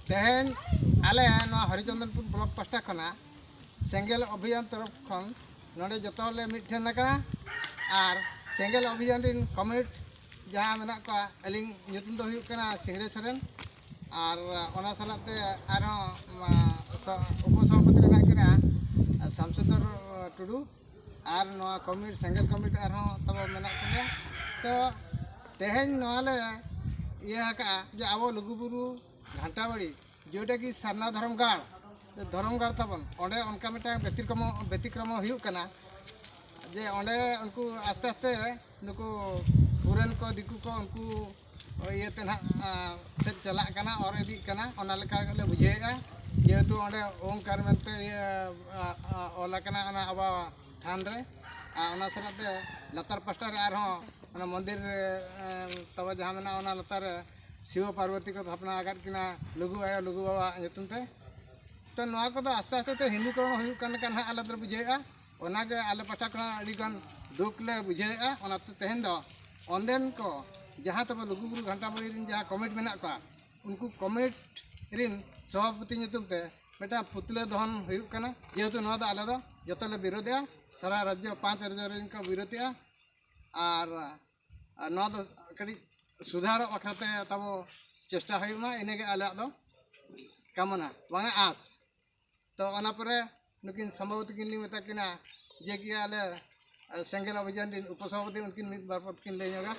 ᱛᱮᱦᱮᱧ ᱟᱞᱮ ᱱᱚᱣᱟ ᱦᱚᱨᱤᱪᱚᱱᱫᱚᱱᱯᱩᱨ ᱵᱞᱚᱠ ᱯᱟᱥᱴᱟ ᱠᱷᱚᱱᱟᱜ ᱥᱮᱸᱜᱮᱞ ᱚᱵᱷᱤᱡᱟᱱ ᱛᱚᱨᱚᱯ ᱠᱷᱚᱱ ᱱᱚᱰᱮ ᱡᱚᱛᱚ ᱦᱚᱲᱞᱮ ᱢᱤᱫᱴᱷᱮᱱ ᱟᱠᱟᱱᱟ ᱟᱨ ᱥᱮᱸᱜᱮᱞ ᱚᱵᱷᱤᱡᱟᱱ ᱨᱤᱱ ᱠᱚᱢᱨᱮᱰ ᱡᱟᱦᱟᱸ ᱢᱮᱱᱟᱜ ᱠᱚᱣᱟ ᱟᱹᱞᱤᱧ ᱧᱩᱛᱩᱢ ᱫᱚ ᱦᱩᱭᱩᱜ ᱠᱟᱱᱟ ᱥᱤᱝᱨᱮ ᱥᱚᱨᱮᱱ ᱟᱨ ᱚᱱᱟ ᱥᱟᱞᱟᱜ ᱛᱮ ᱟᱨᱦᱚᱸ ᱩᱯᱚᱥᱚᱵᱷᱟᱯᱚᱛᱤ ᱢᱮᱱᱟᱜ ᱠᱤᱱᱟ ᱥᱟᱢᱥᱩᱫᱚᱨ ᱴᱩᱰᱩ ᱟᱨ ᱱᱚᱣᱟ ᱠᱚᱢᱤᱴ ᱥᱮᱸᱜᱮᱞ ᱠᱚᱢᱤᱴ ᱟᱨᱦᱚᱸ ᱛᱟᱵᱚ ᱢᱮᱱᱟᱜ ᱛᱟᱵᱚᱱᱟ ᱛᱚ ᱛᱮᱦᱮᱧ ᱱᱚᱣᱟ ᱞᱮ ᱤᱭᱟᱹ ᱟᱠᱟᱜᱼᱟ ᱡᱮ ᱟᱵᱚ ᱞᱩᱜᱩᱵᱩᱨᱩ ᱜᱷᱟᱱᱴᱟ ᱵᱟᱲᱤ ᱡᱮᱴᱟ ᱠᱤ ᱥᱟᱨᱱᱟ ᱫᱷᱚᱨᱚᱢ ᱜᱟᱲ ᱫᱷᱚᱨᱚᱢ ᱜᱟᱲ ᱛᱟᱵᱚᱱ ᱚᱸᱰᱮ ᱚᱱᱠᱟ ᱢᱤᱫᱴᱟᱝ ᱵᱮᱛᱤᱠᱨᱚᱢᱚ ᱵᱮᱛᱤᱠᱨᱚᱢᱚ ᱦᱩᱭᱩᱜ ᱠᱟᱱᱟ ᱡᱮ ᱚᱸᱰᱮ ᱩᱱᱠᱩ ᱟᱥᱛᱮ ᱟᱥᱛᱮ ᱱᱩᱠᱩ ᱯᱷᱚᱨᱮᱱ ᱠᱚ ᱫᱤᱠᱩ ᱠᱚ ᱩᱱᱠᱩ ᱤᱭᱟᱹᱛᱮ ᱱᱟᱦᱟᱜ ᱥᱮᱫ ᱪᱟᱞᱟᱜ ᱠᱟᱱᱟ ᱚᱨ ᱤᱫᱤᱜ ᱠᱟᱱᱟ ᱚᱱᱟ ᱞᱮᱠᱟ ᱜᱮᱞᱮ ᱵᱩᱡᱷᱟᱹᱣᱮᱫᱼᱟ ᱡᱮᱦᱮᱛᱩ ᱚᱸᱰᱮ ᱳᱢᱠᱟᱨ ᱢᱮᱱᱛᱮ ᱤᱭᱟᱹ ᱚᱞ ᱟᱠᱟᱱᱟ ᱚᱱᱟ ᱟᱵᱚᱣᱟᱜ ᱛᱷᱟᱱ ᱨᱮ ᱟᱨ ᱚᱱᱟ ᱥᱟᱞᱟᱜ ᱛᱮ ᱞᱟᱛᱟᱨ ᱯᱟᱥᱴᱟ ᱨᱮ ᱟᱨᱦᱚᱸ ᱚᱱᱟ ᱢᱚᱱᱫᱤᱨ ᱛᱟᱵᱚ ᱡᱟᱦᱟᱸ ᱢᱮᱱᱟᱜᱼᱟ ᱚᱱᱟ ᱞᱟᱛᱟᱨ ᱨᱮ ᱥᱤᱵᱚ ᱯᱟᱨᱵᱚᱛᱤ ᱠᱚ ᱛᱷᱟᱯᱱᱟ ᱟᱠᱟᱫ ᱠᱤᱱᱟ ᱞᱩᱜᱩ ᱟᱭᱳ ᱞᱩᱜᱩ ᱵᱟᱵᱟᱣᱟᱜ ᱧᱩᱛᱩᱢ ᱛᱮ ᱛᱚ ᱱᱚᱣᱟ ᱠᱚᱫᱚ ᱟᱥᱛᱮ ᱟᱥᱛᱮ ᱛᱮ ᱦᱤᱱᱫᱩᱠᱚᱨᱚᱱ ᱦᱩᱭᱩᱜ ᱠᱟᱱ ᱞᱮᱠᱟ ᱱᱟᱦᱟᱜ ᱟᱞᱮ ᱫᱚᱞᱮ ᱵᱩᱡᱷᱟᱹᱣᱮᱫᱼᱟ ᱚᱱᱟᱜᱮ ᱟᱞᱮ ᱯᱟᱦᱴᱟ ᱠᱷᱚᱱᱟᱜ ᱟᱹᱰᱤ ᱜᱟᱱ ᱫᱩᱠ ᱞᱮ ᱵᱩᱡᱷᱟᱹᱣᱮᱫᱼᱟ ᱚᱱᱟᱛᱮ ᱛᱮᱦᱮᱧ ᱫᱚ ᱚᱸᱰᱮᱱ ᱠᱚ ᱡᱟᱦᱟᱸ ᱛᱟᱵᱚ ᱞᱩᱜᱩᱵᱩᱨᱩ ᱜᱷᱟᱱᱴᱟᱵᱟᱲᱤ ᱨᱮᱱ ᱡᱟᱦᱟᱸ ᱠᱚᱢᱤᱴ ᱢᱮᱱᱟᱜ ᱠᱚᱣᱟ ᱩᱱᱠᱩ ᱠᱚᱢᱤᱴ ᱨᱮᱱ ᱥᱚᱵᱷᱟᱯᱚᱛᱤ ᱧᱩᱛᱩᱢ ᱛᱮ ᱢᱤᱫᱴᱟᱝ ᱯᱩᱛᱞᱟᱹ ᱫᱚᱦᱚᱱ ᱦᱩᱭᱩᱜ ᱠᱟᱱᱟ ᱡᱮᱦᱮᱛᱩ ᱱᱚᱣᱟ ᱫᱚ ᱟᱞᱮ ᱫᱚ ᱡᱚᱛᱚ ᱞᱮ ᱵᱤᱨᱳᱫᱮᱜᱼᱟ ᱥᱟᱨᱟ ᱨᱟᱡᱽᱡᱚ ᱯᱟᱸᱪ ᱨᱟᱡᱽᱡᱚ ᱨᱮᱱ ᱠᱚ ᱵᱤᱨᱳᱫᱮᱜᱼᱟ ᱟᱨ ᱱᱚᱣᱟ ᱫᱚ ᱠᱟᱹᱴᱤᱡ ᱥᱩᱫᱷᱟᱨᱚᱜ ᱵᱟᱠᱷᱨᱟᱛᱮ ᱛᱟᱵᱚ ᱪᱮᱥᱴᱟ ᱦᱩᱭᱩᱜ ᱢᱟ ᱤᱱᱟᱹᱜᱮ ᱟᱞᱮᱭᱟᱜ ᱫᱚ ᱠᱟᱢᱚᱱᱟ ᱵᱟᱝᱟ ᱟᱸᱥ ᱛᱚ ᱚᱱᱟ ᱯᱚᱨᱮ ᱱᱩᱠᱤᱱ ᱥᱚᱢᱵᱷᱟᱵᱚᱛᱤ ᱠᱤᱱ ᱞᱤᱧ ᱢᱮᱛᱟ ᱠᱤᱱᱟ ᱡᱮ ᱠᱤ ᱟᱞᱮ ᱥᱮᱸᱜᱮᱞ ᱚᱵᱷᱤᱡᱟᱱ ᱨᱤᱱ ᱩᱯᱚᱥᱚᱵᱷᱟᱯᱚᱛᱤ ᱩᱱᱠᱤᱱ ᱢᱤᱫ ᱵᱟᱨ ᱯᱚᱫ ᱠᱤᱱ ᱞᱟᱹᱭ ᱧᱚᱜᱟ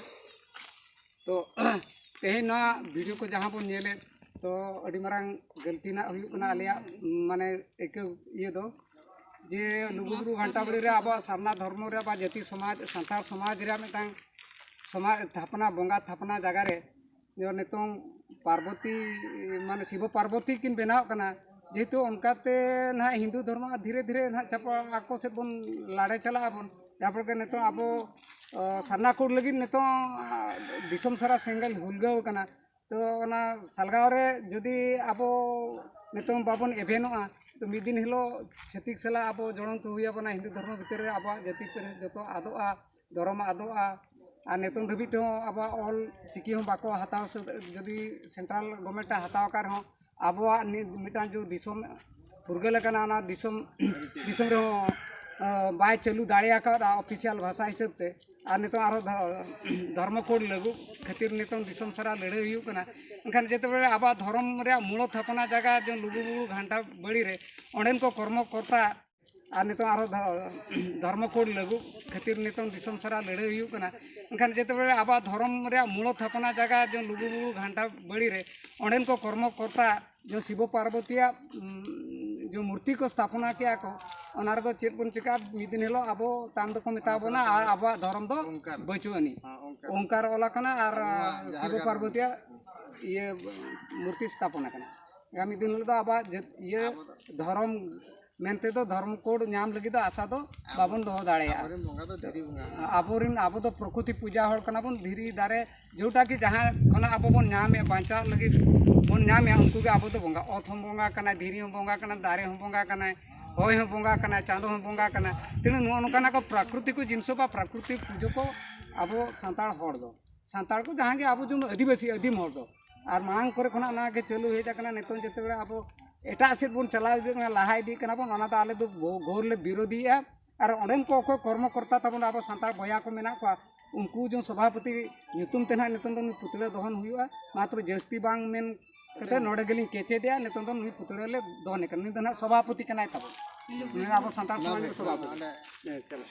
ᱛᱚ ᱛᱮᱦᱮᱧ ᱱᱚᱣᱟ ᱵᱷᱤᱰᱤᱭᱳ ᱠᱚ ᱡᱟᱦᱟᱸ ᱵᱚᱱ ᱧᱮᱞᱮᱫ ᱛᱚ ᱟᱹᱰᱤ ᱢᱟᱨᱟᱝ ᱜᱟᱹᱞᱛᱤ ᱨᱮᱱᱟᱜ ᱦᱩᱭᱩᱜ ᱠᱟᱱᱟ ᱟᱞᱮᱭᱟᱜ ᱢᱟᱱᱮ ᱟᱹᱭᱠᱟᱹᱣ ᱤᱭᱟᱹ ᱫᱚ ᱡᱮ ᱞᱩᱜᱩᱵᱩᱨᱩ ᱜᱷᱟᱱᱴᱟ ᱵᱟᱲᱮ ᱨᱮ ᱟᱵᱚᱣᱟᱜ ᱥᱟᱨᱱᱟ ᱫᱷᱚᱨᱢᱚ ᱨᱮ ᱵᱟ ᱡᱟᱹᱛᱤ ᱥᱚᱢᱟᱡᱽ ᱥᱟᱱᱛᱟᱲ ᱥᱚᱢᱟᱡᱽ ᱨᱮᱭᱟᱜ ᱢᱤᱫᱴᱟᱝ ᱥᱚᱢᱟᱡᱽ ᱛᱷᱟᱯᱱᱟ ᱵᱚᱸᱜᱟ ᱛᱷᱟᱯᱱᱟ ᱡᱟᱭᱜᱟ ᱨᱮ ᱡᱮᱢᱚᱱ ᱱᱤᱛᱚᱝ ᱯᱟᱨᱵᱚᱛᱤ ᱢᱟᱱᱮ ᱥᱤᱵᱚ ᱯᱟᱨᱵᱚᱛᱤ ᱠᱤᱱ ᱵᱮᱱᱟᱣᱚᱜ ᱠᱟᱱᱟ ᱡᱮᱦᱮᱛᱩ ᱚᱱᱠᱟᱛᱮ ᱱᱟᱜ ᱦᱤᱱᱫᱩ ᱫᱷᱚᱨᱢᱚ ᱟᱨ ᱫᱷᱤᱨᱮ ᱫᱷᱤᱨᱮ ᱱᱟᱜ ᱪᱟᱵᱟ ᱟᱠᱚ ᱥᱮᱫ ᱵᱚᱱ ᱞᱟᱲᱮ ᱪᱟᱞᱟᱜ ᱟᱵᱚᱱ ᱡᱟᱦᱟᱸ ᱯᱷᱚᱞᱮᱛᱮ ᱱᱤᱛᱚᱝ ᱟᱵᱚ ᱥᱟᱨᱱᱟ ᱠᱳᱰ ᱞᱟᱹᱜᱤᱫ ᱱᱤᱛᱚᱝ ᱫᱤᱥᱚᱢ ᱥᱟᱨᱟ ᱥᱮᱸᱜᱮᱞ ᱩᱞᱜᱟᱹᱣ ᱠᱟᱱᱟ ᱛᱚ ᱚᱱᱟ ᱥᱟᱞᱜᱟᱣ ᱨᱮ ᱡᱩᱫᱤ ᱟᱵᱚ ᱱᱤᱛᱚᱝ ᱵᱟᱵᱚᱱ ᱮᱵᱷᱮᱱᱚᱜᱼᱟ ᱛᱚ ᱢᱤᱫ ᱫᱤᱱ ᱦᱤᱞᱳᱜ ᱪᱷᱟᱹᱛᱤᱠ ᱥᱟᱞᱟᱜ ᱟᱵᱚ ᱡᱚᱲᱚᱱᱛᱚ ᱦᱩᱭ ᱟᱵᱚᱱᱟ ᱦᱤᱱᱫᱩ ᱫᱷᱚᱨᱢᱚ ᱵᱷᱤᱛᱤᱨ ᱨᱮ ᱟᱵᱚᱣᱟᱜ ᱡᱟᱹᱛᱤ ᱯᱟᱹᱨᱤᱥ ᱡᱚᱛᱚ ᱟᱫᱚᱜᱼᱟ ᱫᱷᱚᱨᱚᱢ ᱟᱫᱚᱜᱼᱟ ᱟᱨ ᱱᱤᱛᱚᱝ ᱫᱷᱟᱹᱵᱤᱡ ᱛᱮᱦᱚᱸ ᱟᱵᱚᱣᱟᱜ ᱚᱞ ᱪᱤᱠᱤ ᱦᱚᱸ ᱵᱟᱠᱚ ᱦᱟᱛᱟᱣ ᱥᱟᱹᱛ ᱡᱩᱫᱤ ᱥᱮᱱᱴᱨᱟᱞ ᱜᱚᱵᱷᱢᱮᱱᱴ ᱮ ᱦᱟᱛᱟᱣ ᱟᱠᱟᱫ ᱨᱮᱦᱚᱸ ᱟᱵᱚᱣᱟᱜ ᱱᱤᱛ ᱢᱤᱫᱴᱟᱝ ᱡᱮ ᱫᱤᱥᱚᱢ ᱯᱷᱩᱨᱜᱟᱹᱞ ᱟᱠᱟᱱᱟ ᱚᱱᱟ ᱫᱤᱥᱚᱢ ᱫᱤᱥᱚᱢ ᱨᱮᱦᱚᱸ ᱵᱟᱭ ᱪᱟᱹᱞᱩ ᱫᱟᱲᱮ ᱟᱠᱟᱫᱼᱟ ᱚᱯᱷᱤᱥᱤᱭᱟᱞ ᱵᱷᱟᱥᱟ ᱦᱤᱥᱟᱹᱵ ᱛᱮ ᱟᱨ ᱱᱤᱛᱚᱝ ᱟᱨᱦᱚᱸ ᱫᱷᱚᱨᱢᱚ ᱠᱳᱰ ᱞᱟᱹᱜᱩ ᱠᱷᱟᱹᱛᱤᱨ ᱱᱤᱛᱚᱝ ᱫᱤᱥᱚᱢ ᱥᱟᱨᱟ ᱞᱟᱹᱲᱦᱟᱹᱭ ᱦᱩᱭᱩᱜ ᱠᱟᱱᱟ ᱮᱱᱠᱷᱟᱱ ᱡᱮᱛᱮ ᱵᱟᱨᱮ ᱟᱵᱚᱣᱟᱜ ᱫᱷᱚᱨᱚᱢ ᱨᱮᱭᱟᱜ ᱢᱩᱬ ᱛᱷᱟᱯᱚᱱᱟ ᱡᱟᱭᱜᱟ ᱡᱮ ᱞᱩᱜᱩ ᱵᱩᱨᱩ ᱜᱷᱟᱱᱴᱟ ᱵᱟᱹᱲᱤ ᱨᱮ ᱚᱸᱰᱮᱱ ᱠᱚ ᱠᱚᱨᱢᱚ ᱠᱚᱨᱛᱟ ᱟᱨ ᱱᱤᱛᱚᱜ ᱟᱨᱚ ᱫᱷᱚᱨᱢᱚ ᱠᱳᱰ ᱞᱟᱹᱜᱩᱜ ᱠᱷᱟᱹᱛᱤᱨ ᱱᱤᱛᱚᱜ ᱫᱤᱥᱚᱢ ᱥᱟᱨᱟ ᱞᱟᱹᱲᱦᱟᱹᱭ ᱦᱩᱭᱩᱜ ᱠᱟᱱᱟ ᱮᱱᱠᱷᱟᱱ ᱡᱮᱛᱮ ᱵᱮᱲᱮ ᱟᱵᱚᱣᱟᱜ ᱫᱷᱚᱨᱚᱢ ᱨᱮᱭᱟᱜ ᱢᱩᱬ ᱛᱷᱟᱯᱚᱱᱟ ᱡᱟᱭᱜᱟ ᱡᱮ ᱞᱩᱜᱩ ᱵᱩᱨᱩ ᱜᱷᱟᱱᱴᱟ ᱵᱟᱲᱮ ᱨᱮ ᱚᱸᱰᱮᱱ ᱠᱚ ᱠᱚᱨᱢᱚ ᱠᱚᱨᱛᱟ ᱡᱮ ᱥᱤᱵᱚ ᱯᱟᱨᱵᱚᱛᱤᱭᱟᱜ ᱡᱮ ᱢᱩᱨᱛᱤ ᱠᱚ ᱥᱛᱷᱟᱯᱚᱱᱟ ᱠᱮᱜᱼᱟ ᱠᱚ ᱚᱱᱟ ᱨᱮᱫᱚ ᱪᱮᱫ ᱵᱚᱱ ᱪᱤᱠᱟᱹᱜᱼᱟ ᱢᱤᱫ ᱫᱤᱱ ᱦᱤᱞᱳᱜ ᱟᱵᱚ ᱛᱟᱭᱚᱢ ᱫᱚᱠᱚ ᱢᱮᱛᱟ ᱵᱚᱱᱟ ᱟᱨ ᱟᱵᱚᱣᱟᱜ ᱫᱷᱚᱨᱚᱢ ᱫᱚ ᱵᱟᱹᱪᱩᱜ ᱟᱹᱱᱤᱡ ᱚᱱᱠᱟᱨ ᱚᱞ ᱟᱠᱟᱱᱟ ᱟᱨ ᱥᱤᱵᱚ ᱯᱟᱨᱵᱚᱛᱤᱭᱟᱜ ᱤᱭᱟᱹ ᱢᱩᱨᱛᱤ ᱥᱛᱷᱟᱯᱚᱱ ᱟᱠᱟᱱᱟ ᱟᱜᱟᱢᱤ ᱫᱤᱱ ᱦᱤᱞᱳᱜ ᱫᱚ ᱟᱵᱚᱣᱟᱜ ᱤᱭᱟᱹ ᱫᱷᱚᱨᱚᱢ ᱢᱮᱱ ᱛᱮᱫᱚ ᱫᱷᱚᱨᱚᱢ ᱠᱳᱰ ᱧᱟᱢ ᱞᱟᱹᱜᱤᱫ ᱫᱚ ᱟᱥᱟ ᱫᱚ ᱵᱟᱵᱚᱱ ᱫᱚᱦᱚ ᱫᱟᱲᱮᱭᱟᱜᱼᱟ ᱟᱵᱚᱨᱮᱱ ᱟᱵᱚ ᱫᱚ ᱯᱨᱚᱠᱨᱤᱛᱤ ᱯᱩᱡᱟ ᱦᱚᱲ ᱠᱟᱱᱟ ᱵᱚᱱ ᱫᱷᱤᱨᱤ ᱫᱟᱨᱮ ᱡᱮᱴᱟ ᱜᱮ ᱡᱟᱦᱟᱸ ᱠᱷᱚᱱᱟᱜ ᱟᱵᱚ ᱵᱚᱱ ᱧᱟᱢᱮᱫ ᱵᱟᱧᱪᱟᱜ ᱞᱟᱹᱜᱤᱫ ᱵᱚᱱ ᱧᱟᱢᱮᱫ ᱩᱱᱠᱩ ᱜᱮ ᱟᱵᱚ ᱫᱚ ᱵᱚᱸᱜᱟ ᱚᱛ ᱦᱚᱸ ᱵᱚᱸᱜᱟ ᱠᱟᱱᱟᱭ ᱫᱷᱤᱨᱤ ᱦᱚᱸ ᱵᱚᱸᱜᱟ ᱠᱟᱱᱟᱭ ᱫᱟᱨᱮ ᱦᱚᱸ ᱵᱚᱸᱜᱟ ᱠᱟᱱᱟᱭ ᱦᱚᱭ ᱦᱚᱸ ᱵᱚᱸᱜᱟ ᱠᱟᱱᱟᱭ ᱪᱟᱸᱫᱚ ᱦᱚᱸ ᱵᱚᱸᱜᱟ ᱠᱟᱱᱟᱭ ᱛᱮᱱᱚ ᱱᱚᱜᱼᱚ ᱱᱚᱝᱠᱟᱱᱟᱜ ᱠᱚ ᱯᱨᱟᱠᱨᱤᱛᱤ ᱠᱚ ᱡᱤᱱᱤᱥ ᱵᱟ ᱯᱨᱟᱠᱨᱤᱛᱤ ᱯᱩᱡᱟᱹ ᱠᱚ ᱟᱵᱚ ᱥᱟᱱᱛᱟᱲ ᱦᱚᱲ ᱫᱚ ᱥᱟᱱᱛᱟᱲ ᱠᱚ ᱡᱟᱦᱟᱸ ᱜᱮ ᱟᱵᱚ ᱡᱮᱢᱚᱱ ᱟᱹᱫᱤᱵᱟᱹᱥᱤ ᱟᱹᱫᱤᱢ ᱦᱚᱲ ᱫᱚ ᱟᱨ ᱢᱟᱲᱟᱝ ᱠᱚᱨᱮ ᱠᱷᱚᱱᱟᱜ ᱚᱱᱟ ᱜᱮ ᱪᱟᱹᱞᱩ ᱦᱮᱡ ᱟᱠᱟᱱᱟ ᱱᱤᱛᱚᱝ ᱡᱮᱛᱮ ᱵᱮᱲᱟ ᱟᱵᱚ ᱮᱴᱟᱜ ᱥᱮᱫ ᱵᱚᱱ ᱪᱟᱞᱟᱣ ᱤᱫᱤᱜ ᱠᱟᱱᱟ ᱞᱟᱦᱟ ᱤᱫᱤᱜ ᱠᱟᱱᱟ ᱵᱚᱱ ᱚᱱᱟ ᱫᱚ ᱟᱞᱮ ᱫᱚ ᱜᱷᱳᱨ ᱞᱮ ᱵᱤᱨᱳᱫᱷᱤᱭᱮᱜᱼᱟ ᱟᱨ ᱚᱸᱰᱮᱱ ᱠᱚ ᱚᱠᱚᱭ ᱠᱚᱨᱢᱚ ᱠᱚᱨᱛᱟ ᱛᱟᱵᱚᱱ ᱟᱵᱚ ᱥᱟᱱᱛᱟᱲ ᱵᱚᱭᱦᱟ ᱠᱚ ᱢᱮᱱᱟᱜ ᱠᱚᱣᱟ ᱩᱱᱠᱩ ᱡᱮ ᱥᱚᱵᱷᱟᱯᱚᱛᱤ ᱧᱩᱛᱩᱢ ᱛᱮ ᱱᱟᱦᱟᱜ ᱱᱤᱛᱚᱝ ᱫᱚ ᱱᱩᱭ ᱯᱩᱛᱲᱟᱹ ᱫᱚᱦᱚᱱ ᱦᱩᱭᱩᱜᱼᱟ ᱢᱟ ᱛᱚᱵᱮ ᱡᱟᱹᱥᱛᱤ ᱵᱟᱝ ᱢᱮᱱ ᱠᱟᱛᱮ ᱱᱚᱰᱮ ᱜᱮᱞᱤᱧ ᱠᱮᱪᱮᱫᱮᱜᱼᱟ ᱱᱤᱛᱚᱝ ᱫᱚ ᱱᱩᱭ ᱯᱩᱛᱲᱟᱹ ᱞᱮ ᱫᱚᱦᱚᱱᱮ ᱠᱟᱱᱟ ᱱᱩᱭ ᱫᱚ ᱱᱟᱦᱟᱜ ᱥᱚᱵᱷᱟᱯᱚᱛᱤ ᱠᱟᱱᱟᱭ ᱛᱟᱵᱚᱱ ᱱᱩᱭ ᱟᱵᱚ ᱥᱟᱱᱛᱟᱲ ᱥᱚᱢᱟᱡᱽ ᱨᱮᱱ ᱥᱚᱵᱷᱟᱯᱚᱛᱤ ᱦᱮᱸ ᱪᱟᱞᱟᱜ